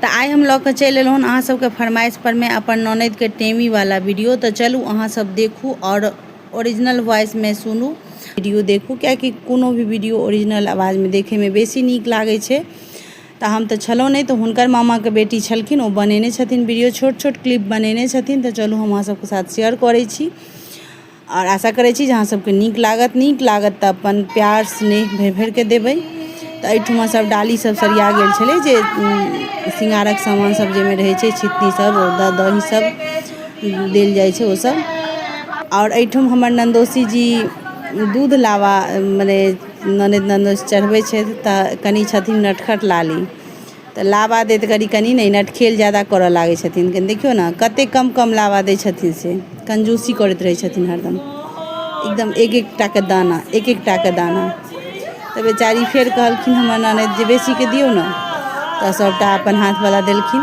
तऽ आइ हम लऽ कऽ चलि एलहुँ हन अहाँ सबके फरमाइश पर मे अपन ननद के टेमी वाला वीडियो तऽ चलू अहाँ सब देखू आओर ओरिजिनल वॉइस मे सुनू वीडियो देखू कियाकि कोनो भी वीडियो ओरिजिनल आवाज मे देखे मे बेसी नीक लागै छै तऽ हम तऽ छलहुँ नहि तऽ हुनकर मामा के बेटी छलखिन ओ बनेने छथिन वीडियो छोट छोट क्लिप बनेने छथिन तऽ चलू हम अहाँ सबके साथ शेयर करै छी आओर आशा करै छी जे अहाँ सबके नीक लागत नीक लागत तऽ अपन प्यार स्नेह भरि भरिके देबै तऽ एहिठाम सब डाली सब सरिया गेल छलै जे शृंगारक सामान सब जाहिमे रहै छै छिपकी सब ओतऽ दही सब देल जाइ छै ओसब आओर एहिठाम हमर नन्दोसी जी दूध लाबा मने ननैद नन्दोस चढ़बै छथि तऽ कनि छथिन नटखट लाली तऽ लावा दैत घड़ी कनि ने ई नटखेल ज्यादा करय लागै छथिन कनि देखियौ ने कतेक कम कम लावा दै छथिन से कंजूसी करैत रहै छथिन हरदम एकदम एक एक टाके दाना एक एक टाके दाना तऽ बेचारी फेर कहलखिन हमर ननदि जे बेसीके दियौ ने तऽ सभटा अपन हाथवला देलखिन